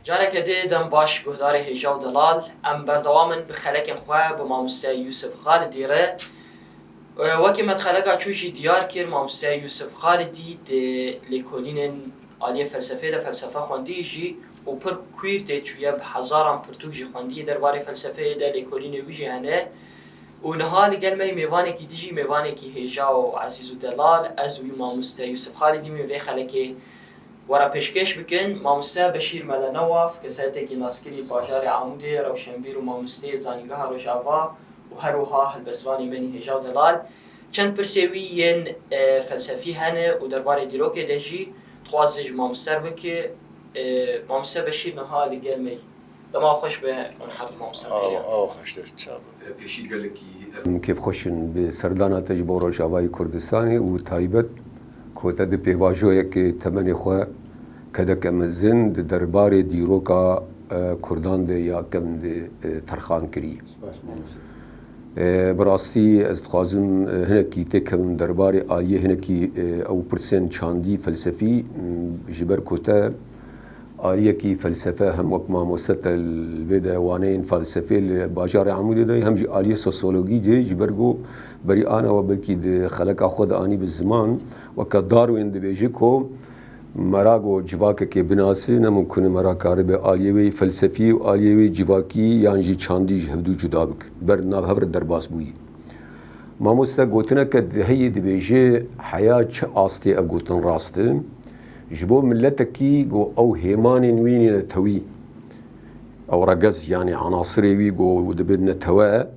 Careke dê dem baş guhdarê hêja û delal em berdewam in bi xelekên xwe bi mamoste Yûsif Xalidî re. Wekî me di xeleka çû jî diyar kir mamoste Yûsif Xalidî dê lêkolînên aliyê felsefê de felsefe xwendî jî û pir kwîr tê çûye, bi hezaran pirtûk jî xwendiye derbarê felsefeyê de, lêkolînê wî jî hene û niha li gel me yê mêvanekî dijî, mêvanekî hêja û ezîz û delal, ez û wî mamoste Yûsif Xalidî mîn vê xelekê were pêşkêş bikin. Mamoste Beşîr Mele Newaf, kesayetekî naskirî bajarê Amûdê, rewşenbîr û mamosteyê Zanîngeha Rojava û her wiha helbestvanê menî hêja û delal. Çend pirsê wî yên felsefî hene û derbarê dîrokê de jî Dixwazin ji mam ser bin ki Mamiste Beşîr niha li gel me yî. Dema xweş be hûn her du Mamiste Beşîran. Awa xweş te çav be. Pêşî gelekî em kêfxweş in bi serdana te ji bo Rojavayê Kurdistanê û taybet ku te di pêvajoyekê temenê xwe kedeke mezin di derbarê dîroka Kurdan de ya kevn de terxan kirî. Bi rastî ez dixwazim hinekî têkevim derbarê aliyê hinekî ew pirsên çandî felsefî ji ber ku te aliyekî felsefe hem wek mamoste te li vê de waneyên felsefê li bajarê Amûdê dayî hem jî aliyê sosyologî dê ji ber ku berî ana we belkî di xeleka xwe de anî bi ziman weke Darwin dibêje ku Merak û civakekê binase, ne mimkun e merak karibe aliyê wê felsefî û aliyê wê civakî yan jî çandî ji hevdu cuda bike, ber nav hev re derbas bûyî. Mamoste gotineke di heye dibêje, heya çi astê ev gotin rast e, ji bo miletekî ku ew hêmanên wî nîne tewî, ew regez yanî enasirê wî ku dibe netewe,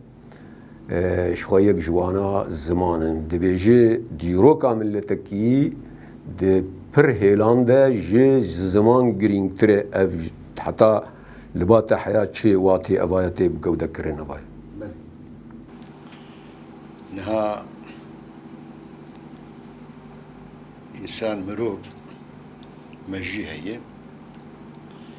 ji xwe yek ji wana ziman in. Dibêje dîroka miletekî di pir hêlan de ji ziman girîngtir e. Ev heta li ba te heya çi watê eva ye tê bigewdekirin eva ye. Niha însan mirov mejî heye.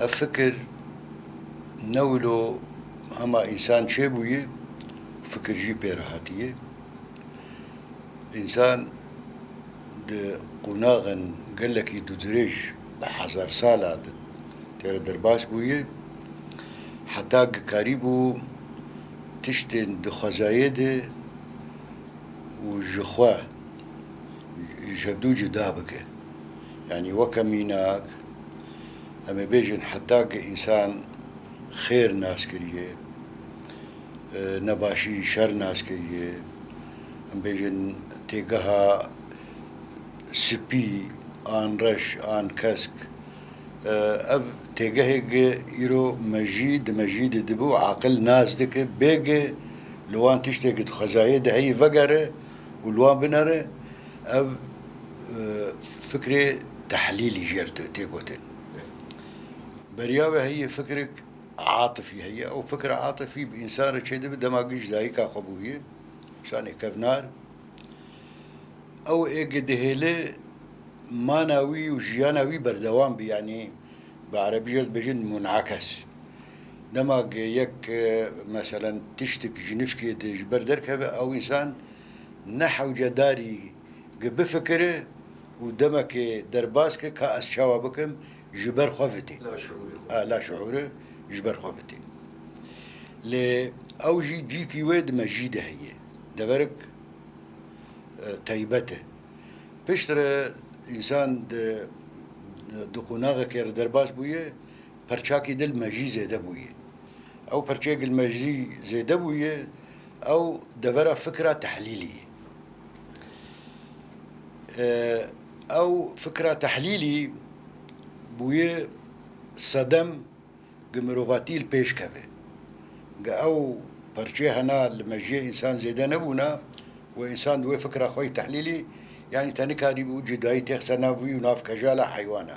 Ev fikir ne wilo hema însan çêbûye, fikir jî pê re hatiye. Însan di qonaxên gelekî dûdirêj, bi hezar sala de tê re derbas bûye. Heta gikarîbû tiştên dixwezayê de û ji xwe ji hevdû cuda bike. Yanî weke mînak em ê bêjin heta ke însan xêr nas kiriye, nebaşî, şer nas kiriye, em bêjin têgeha spî an reş an kesk, ev têgehêk e îro me jî di me jî de dibû aqil nas dike bêge li wan tiştê ke di xwezayê de heye vegere û li wan binêre ev fikrê tehlîlî ji êr tê gotin. Beriya wê heye fikirek atifî heye. Ew fikra atifî bi însan re çêdibe dema giş dayika xwe bûye, însanê kevnar. Ew êgê dihêle mana wî û jiyana wî berdewam be yanî bi erebî jî dibêjin munakes. Dema ke yek meselen tiştik ji nişkê de ji ber derkeve ew însan ne hewce darî ke bifikire û demekê derbas ke ka ez çawa bikim ji ber xwe vitîn. Laşiûrî ji ber xwe vitîn. Lê ew jî cîkî wê di mejî de heye. Deverek taybet e. Piştre însan di di qonaxekê re derbas bûye. Perçakî dil mejî zêde bûye. Ew perçeyê gil mejî zêde bûye, ew devera fikra tehlîlî ye. Ew fikra tehlîlî bûye sedem gi mirovatî li pêş keve. Ge ew perçe hena li mejiyê însan zêde nebûna û însan di wê fikra xwe yî tehlîlî yanî te nikarîbû cudayî têxise nav wî û nav kejala heywana.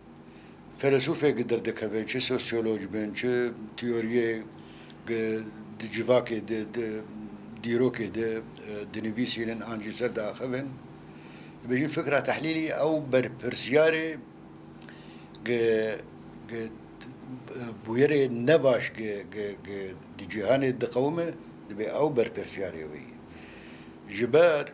Fêlesûfê gi dir dikeve, çi sosyolog bin, çi teoriyê gi di civakê de, di dîrokê de dinivîsînin an jî ser diaxivin, dibêjin fikra tehlîlî ew berpirsyarê gi gi bûyerê ne baş gi gi gi di cîhanê diqewime, dibê ew berpirsyarê wê ye. Ji ber.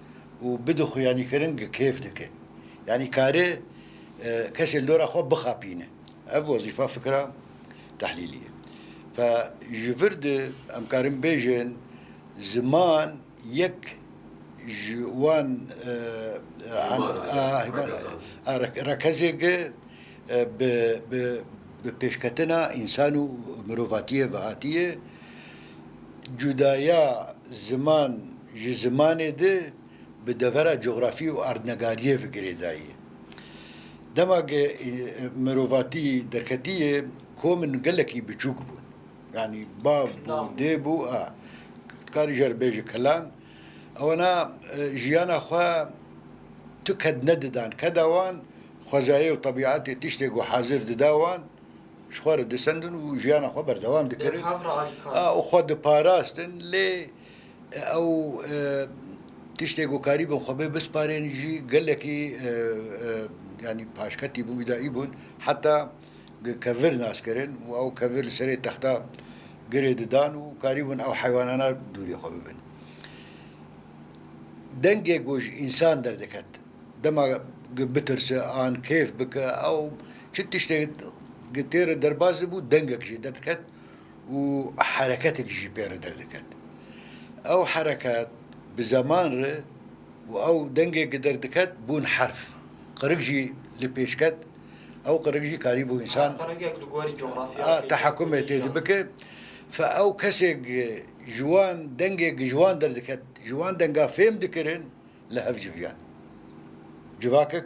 û bi dixuyanîkirin gi kêf dike. Yanî kare kesê li dora xwe bixapîne. Ev wezîfa fikra tehlîlî ye. Fe ji vir di em karin bêjin ziman yek ji wan rekezêk e bi pêşketina însan û mirovatiyê ve hatîye. Cudaya ziman ji zimanê di bi devera cografî û erdnegariyê ve girêdayî. Dema ke mirovatî derketiye komin gelekî biçûk bûn. Yanî bav bû, dê bû a. Dikarî jî erê bêje kilan. Ewena jiyana xwe tu ked nedidan. Keda wan xwezayê û tebîetê tiştê ku hezir dida wan. Ji xwe re disendin û jiyana xwe berdewam dikirin û xwe diparastin. Lê ew tiştê ku karîbûn xwe bê bisparên jî gelekî yanî paşketî bûn, bîdayî bûn. Heta bi kevir nas kirin û ew kevir li serê texta girê didan û karîbûn ew heywanana dûrê xwe bibin. Dengê ku ji însan derdiket. Dema ku bitirse an kêf bike ew çi tiştek ku tê re derbas dibû dengek jî derdiket û hereketek jî pê re derdiket. Ew hereket bi zeman re û ew dengê ku derdiket bûn herf. Qirik jî li pêş ket. Ew qirik jî karîbû însan tehekumê tê de bike. Fe ew kesê ku ji wan dengê ku ji wan derdiket ji wan denga fêm dikirin li hev civiyan. Civakek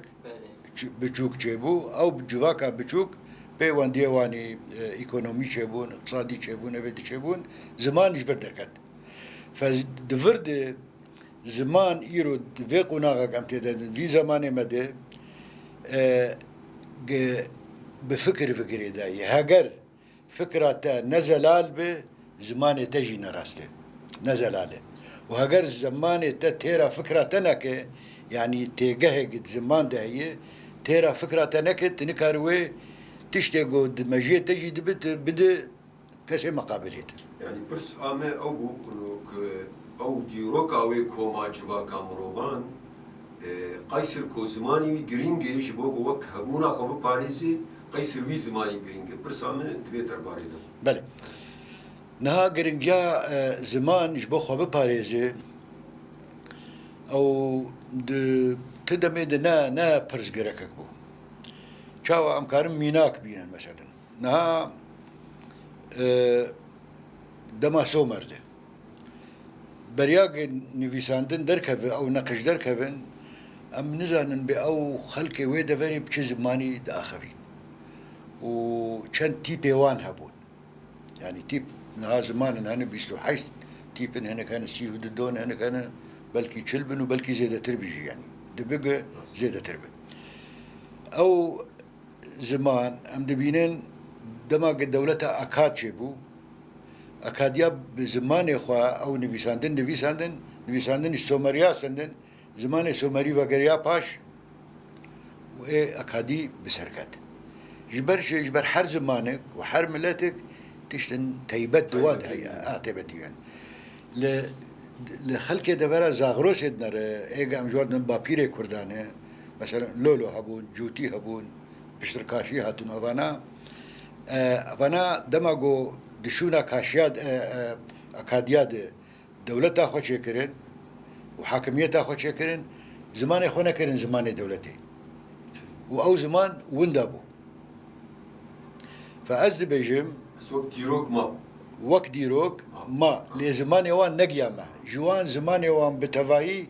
biçûk çêbû, ew civaka biçûk pêwendiyê wanî îkonomî çêbûn, îqtisadî çêbûn, evê di çêbûn, ziman ji vir derket. Di vir de ziman îro di vê qonaxa ke em tê de din, vî zemanê me de bi fikir fikirê dayê. Heger. Fikra te ne zelal be, zimanê te jî ne rast e. Ne zelal e. Û heger zimanê te têra fikra te neke, yanî têgehê ki di ziman de heye, têra fikra te neke, tu nikarî wê tiştê ku di mejiyê te jî dibe, tu bide kesê miqabilê te. Yanî pirs a me ew bû ku ew dîroka wê koma civaka mirovan Qeysir ku zimanî wî girîng e ji bo ku wek hebûna xwe biparêzê, Qeysir wî zimanî girîng e. Pirsa min di vê derbarê de bû. Belê. Niha girîngiya ziman ji bo xwe biparêzê ew di ti demê de ne ne pirsgêrekek bû. Çawa em karin mînak bînin meselen. Niha dema Somer de. Beryagên nivîsandin derkevin ew neqij derkevin em nizanin bê ew xelkê wê deverê bi çi zimanî diaxivîn û çend tîpê wan hebûn. Yanî tîp niha zimanin hene bîst û heşt tîpin hinek hene sî û du don hinek hene belkî çil bin û belkî zêdetir bî jî yanî dibe ku zêdetir be. Ew Ziman, em dibînin dema ku dewleta Akad çêbû, Akadiya bi zimanê xwe ew nivîsandin nivîsandin, nivîsandinî Somerîya sendin, zimanê Somerî vegeriya paş û ê Akadî bi ser ket. Ji ber çi? Ji ber her zimanek û her miletek tiştên teybet di wan de heye, a teybetî heye. Li li xelkê devera Zagrosê dinere, ê ge em ji wan didin bapîrê kurdan e. Mesela lolo hebûn, cûtî hebûn, piştir kaşî hatûn ava na. Ava na dema ku di şûna kaşiya akadiya de dewleta xwe çêkirin û hakimiyeta xwe çêkirin zimanê xwe nekirin zimanê dewletê û ew ziman winda bû. Fe ez dibêjim. Ez wek dîrok ma. Wek dîrok ma lê zimanê wan negiya me. Ji wan zimanê wan bi tevayî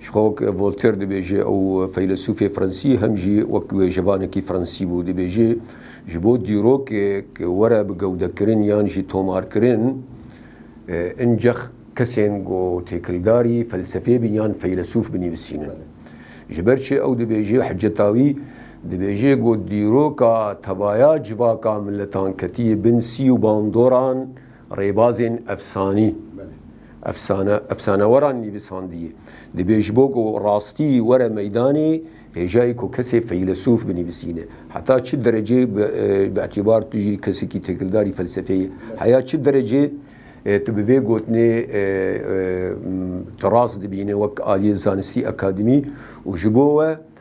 Ji xwe wek Voltaire dibêje, ew feylesûfê Fransî hem jî wek wêjevanekî Fransî bû, dibêje, Ji bo dîrokek were bi gewdekirin yan jî tomarkirin, incex kesên ku têkildarî felsefê bin yan feylesûf binivîsînin. Ji ber çi ew dibêje, Hicetawî, dibêje ku dîroka tevaya civaka miletan ketiye bin sî û bandoran, rêbazên efsanî. Efsane, efsaneweran nivîsandiyê. Divê ji bo ku rastî were meydanê, hêjayê ku kesê feylesof binivîsîne. Heta çi derecê bi îtîbar tu jî kesekî têkildarî felsefeyê yî? Heya çi derecê tu bi vê gotinê tu rast dibînî wek aliyê zanistî, akademî û ji bo we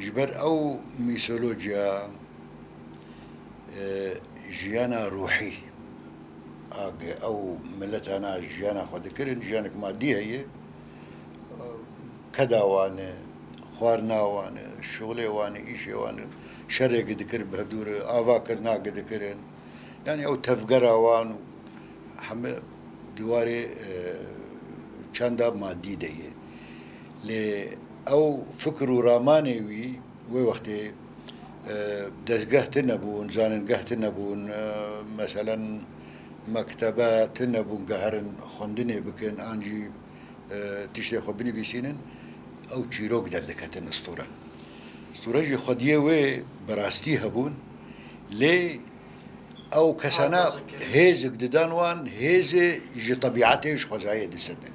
Ji ber ew mîtolojiya jiyana ruhî a ke ew miletana jiyana xwe dikirin, jiyanek madî heye, keda wan e, xwarina wan e, şixulê wan e, îşê wan e, şerê ke dikir bi hevdû re, avakirina ke dikirin, yanî ew tevgera wan û heme di warê çanda madî de ye. Lê ew fikir û ramanê wî wê wextê dezgeh tinebûn, zanîngeh tinebûn, meselen mektebe tinebûn ke herin xwendinê bikin an jî tiştê xwe binivîsînin, ew çîrok derdiketin istûre. Istûre jî xwediyê wê bi rastî hebûn lê ew kesane hêzik didan wan, hêzê ji tebîetê ji xwezayê disendin.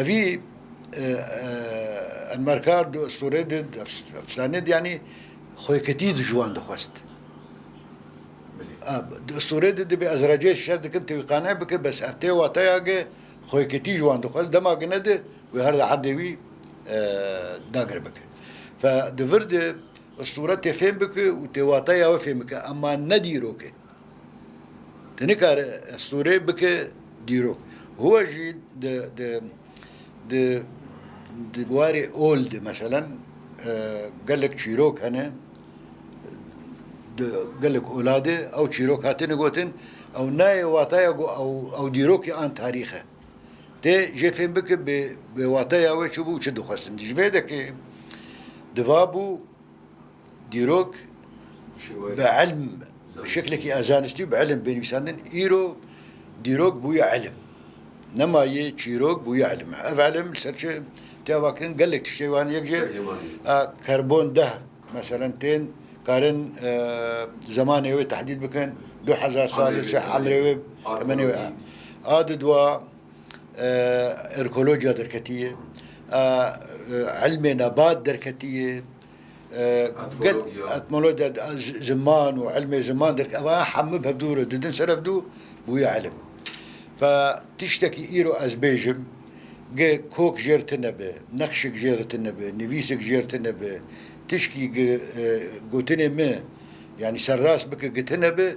Evî Enmerkar du estorê de efsane de yanî xweketî ji wan dixwest. Du estorê de dibê ez recê şer dikim tu wî qane bike bes ev tê wateya ge xweketî ji wan dixwest dema gine de wê her di erdê wî dagir bike. Fe di vir de estore tê fêm bike û tê wateya we fêm bike ema ne dîrok e. Tu nikare estorê bike dîrok. Huwa jî di di di di warê ol de meselen gelek çîrok hene di gelek ola de ew çîrok hatine gotin ew nayê wataya ku ew ew dîrokê an tarîx e. Tê jê fêm bike bê bê wataya wê çi bû û çi dixwestin. Ji vê yekê di va bû. Dîrok bi ilm bi şeklekî a zanistî û bi ilm bê nivîsandin. Îro dîrok bûye ilm. Nema yê çîrok bûye ilm e. Ev ilm li ser çi tê avakirin? Gelek tiştê wan yek jî a karbon deh meselen tên karin zemanê wê tehdîd bikin, du hezar sal li ser emrê wê temenê wê. A di dua erkolociya derketî yê. A ilmê nebat derketî yê. Etmologiya ziman û ilmê ziman derk ev aya hemû bi hev dû re didin ser ev dû bûye ilim. Fe tiştekî îro ez bêjim gi kok jêr tune be, nexşik jêr tune be, nivîsik jêr tune be, tişkî gi gotinê min yanî serrast bike gi tune be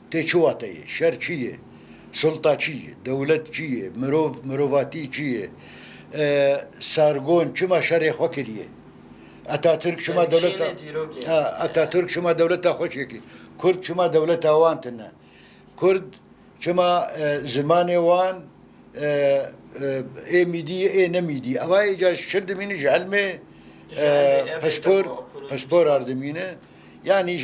Tê çi wate ye? Şer çi ye? Sulta çi ye? Dewlet çi ye? Mirov, mirovatî çi ye? Sargon çima şerê xwe kiriye? Atatürk çima dewleta Atatürk çima dewleta xwe çêkir? Kurd çima dewleta wan tine? Kurd çima zimanê wan ê mîdî ye ê ne mîdî? Ewa êca şir dimîne ji elmê pispor pispor ar dimîne. Yanî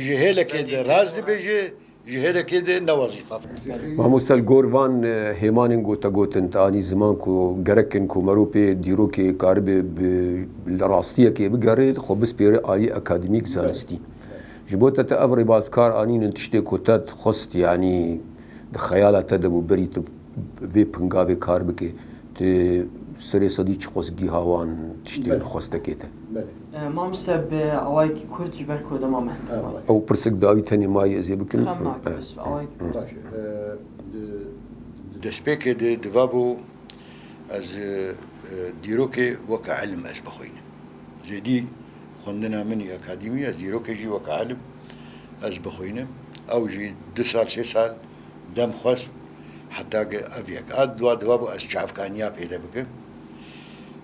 ji hêlekê de rast dibêje, ji hêlekê de ne wezîfa bike. Mamoste li gor van hêmanên gotegotin te anî ziman ku gerek in ku meriv pê dîrokê karibe bi rastiyekê bigere, xwe bispêre aliyê akademîk, zanistî. Ji bo te te ev rêbazkar anîn in tiştê ku te dixwest yanî di xeyala te de bû berî tu bi vê pingavê kar bike. Tu serê sedî çi qos gîha wan tiştên xwestekê te? Mamoste bi awayekî kurt ji ber ku dema me heta wan. Ew pirsik dayî tenê mayê ez ê bikim. Xem nake ez bi awayekî kurt. Baş e. Di destpêkê de divabû ez dîrokê weke îlim ez bixwînim. Zêdî xwendina min î akadîmî ez dîrokê jî weke îlim ez bixwînim. Ew jî du sal sê sal dem xwest heta ke ev yek. A dûa divabû ez çavkaniya pêde bikim.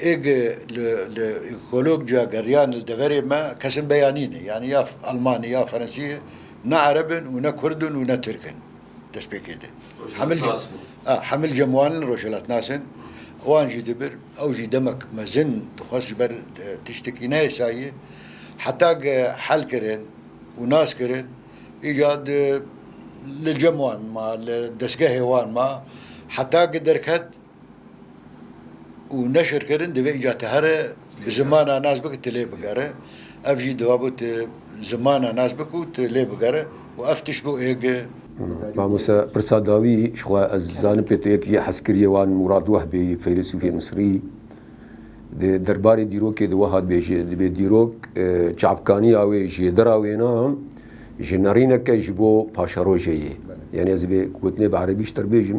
Êg li kolok ciya geriyan li deverê me kesin beyanî ne. Yanî ya Elmanî ya Frensî ye. Ne Ereb in û ne Kurd in û ne Tirk in destpêkê de. Rojhilatnas in. Hemil cem wan in rojhilatnas in. Wan jî di bir ew jî demek mezin dixwest ji ber tiştekî neyê sayî. Heta ke hel kirin û nas kirin îcar di li cem wan ma li destgehê wan ma heta ke derket. û neşirkirin divê îcar te here bi zimana nas bike tu lê bigere ev jî dibabo tu zimana nas bike û tu lê bigere û ev tişt bo êge. Mamoste pirsa dawî ji xwe ez zanim pê tu yek jê hez kiriyê wan Murad Wehbê yê feylesûfê Misrî di derbarê dîrokê de wiha dibêje dibê dîrok çavkaniya wê jêdira wêna ji nerîneke ji bo paşerojê yê yanî ez vê gotinê bi erebî ji te bibêjim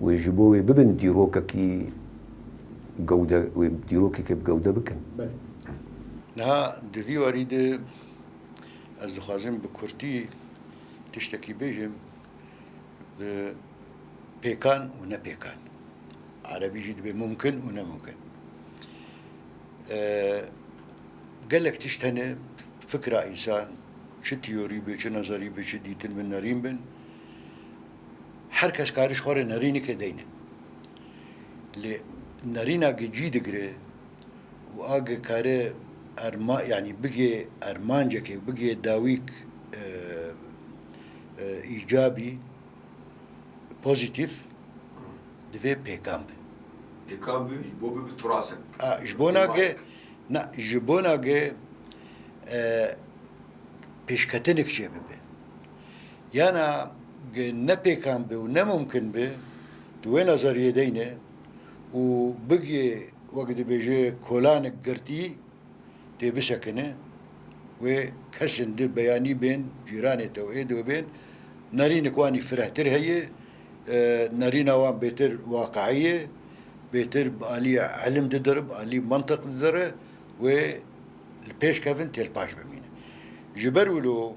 Wê ji bo wê bibin dîrokekî gewde, wê dîrokekê bi gewde bikin. Belê. Niha di vî warî de ez dixwazim bi kurtî tiştekî bêjim bi pêkan û ne pêkan. Erebî jî dibe mumkin û ne mumkin. Gelek tişt hene fikra însan çi tîyorî be, çi nazarî be, çi dîtin be, nerîn bin. Her kes karî ji xwe re nerînekê deyne. Lê nerînakê cî digire û a ge kare erma yanî bigê ermancekê bigê dawîk îcabî pozîtîf divê pêkan be. Pêkan be ji bo bibe turasek. A ji bona ge na ji bona ge pêşketinekê çêbibe. Yana ge ne pêkan be û ne mumkin be di wê nezeriyê de yine û bigiyê wek dibêje kolanek girtî tê bisekine wê kesin di beyanî bên cîranê te û êdî we bên nerînek wanî firehtir heye nerîna wan bêtir waqeî ye bêtir bi alîya ilim didire bi alî mintiq didire wê li pêş kevin têlpaş bimîne ji ber wilo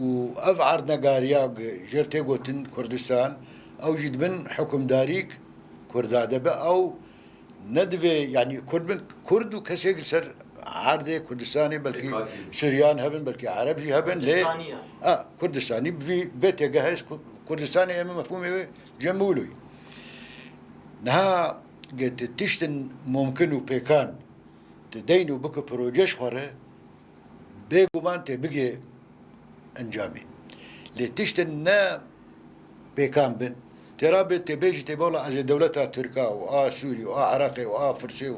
û ev erdnegariya ku ji wir tê gotin Kurdistan ew jî dibin hukimdarî ku Kurda de be ew ne divê yanî Kurd bin Kurd û kesek li ser erdê Kurdistanê belkî Suryan hebin belkî Ereb jî hebin lê a Kurdistanî bi vî vê têgehe ez Kurdistanê em ê mefhûmê wê cem bû wilo niha tiştin mumkin û pêkan tu deyn û bikî proje ji xwe re Bê guman têbigê encamê. Lê tiştên ne pêkan bin, têra bê têbê jî têbe wela ez ê dewleta Tirka û a Sûrî û a Iraqê û a Firsê û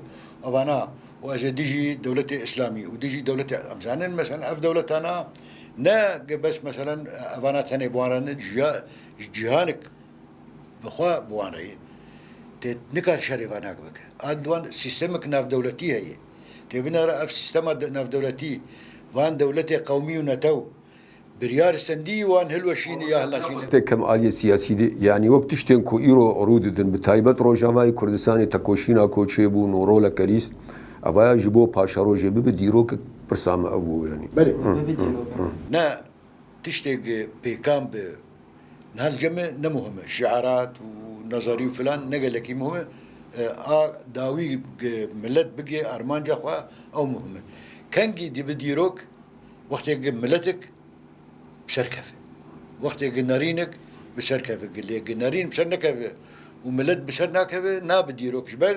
evana û ez ê dijî dewletê Îslamî û dijî dewletê em zanin meselen ev dewletana ne ge bes meselen evana tenê bi wan re ne ji cîhanik bi xwe bi wan re ye. Tê nikare şerê vana bike. A di wan sîstemik navdewletî heye. Têbîna re ev sîstema navdewletî van dewletê qewmî û netew biryar sendî wan hilweşîne ya hilnaşîne. Tê kem aliyê siyasî de yanî wek tiştên ku îro rû didin bi taybet Rojavayê Kurdistanê tekoşîna ku çêbûn û roleke rîst evaya ji bo paşerojê bibe dîrokek pirsa me ev bû yanî. Belê. Ne tiştê pêkan bi. Niha li cem e ne muhim e şiarat û nazarî û filan ne gelekî muhim e. A dawî milet bigê armanca xwe ew muhim e. Kengî dibi dîrok wextê gi miletik bi ser keve. Wextê gi nerînik bi ser keve. Lê gi nerîn bi ser nekeve û milet bi ser nakeve nabi dîrok ji ber.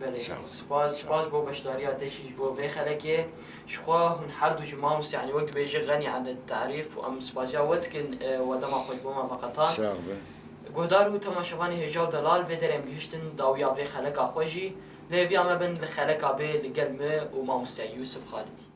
Belê spas spas bo beşdariya te jî ji bo vê xelekê jixwe hûn herdu ji mamoste yanî wek dibêje xenî ene tarîf û em spasiya we dikin we dema xwe ji bo me veqetand. Sax be. Guhdar û temaşevanê hêja û delal vê derê em gihiştin dawiya vê xeleka xwe jî li hêviya me bin li xeleka bê li gel me û mamoste Yûsif Xalidî.